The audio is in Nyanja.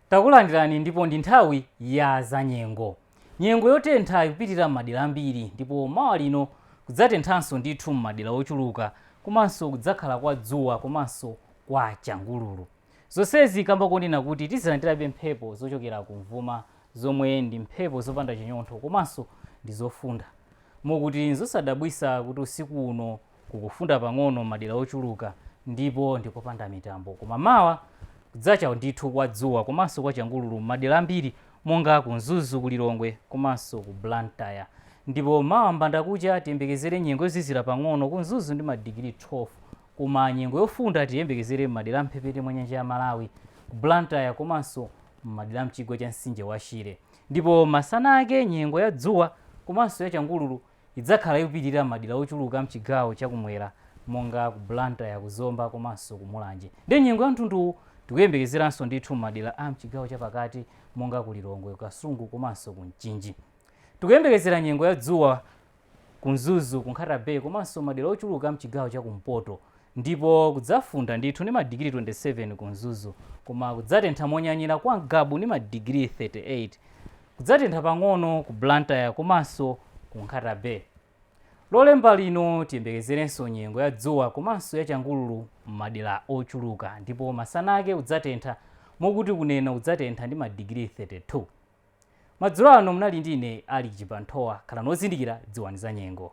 takulandirani ndipo ndi nthawi ya za nyengo nyengo yotentha ikupitirira m'madera ambiri ndipo mawa lino kudzatenthanso ndithu m'madera ochuluka komanso kudzakhala kwa dzuwa komanso kwa changululu zonsezi kamba konena kuti tizilandirabe mphepo zochokera kumvuma zomwe ndi mphepo zopanda chinyontho komanso ndi zofunda Mokuti nzosadabwitsa kuti usiku uno kukufunda pang'ono m'madera ochuluka ndipo ndi kopanda mitambo. Koma mawa, kudzacha ndithu kwa dzuwa komanso kwa changululu m'madera ambiri monga ku Mzuzu, ku Lilongwe komanso ku Blantyre. Ndipo mawa m'mbandakucha tiyembekezere nyengo yozizira pang'ono ku Mzuzu ndi madigiri 12. Koma nyengo yofunda tiyembekezere m'madera a m'mphepete mwa nyanja ya Malawi, ku Blantyre komanso m'madera a m'chigwa cha mtsinje wa Shire. Ndipo masana ake nyengo ya dzuwa komanso ya changululu idzakhala ikupitirira m'madera ochuluka amchigawo cha kumwera monga ku Blantyre, ku Zomba komanso ku Mulanje. Ndi nyengo ya mtundu uwu tikuyembekezeranso ndithu m'madera a mchigawo cha pakati monga ku Lilongwe, ku Kasungu komanso ku Mchinji. Tikuyembekezera nyengo ya dzuwa. ku Mzuzu, ku Nkhata Bay komanso madera ochuluka a mchigawo cha kumpoto ndipo kudzafunda ndithu ndi madigiri 27 ku Mzuzu koma kudzatentha monyanyira kwa Ngabu ndi madigiri 38. Kudzatentha pang'ono ku Blantyre komanso ku Nkhata Bay. Lolemba lino tiyembekezerenso nyengo ya dzuwa komanso ya changululu m'madera ochuluka ndipo masana ake kudzatentha mokuti ku Neno kudzatentha ndi madigiri 32. Madzulo ano munali ndi ine Alick Chibanthowa. Khalani ozindikira, dziwani za nyengo.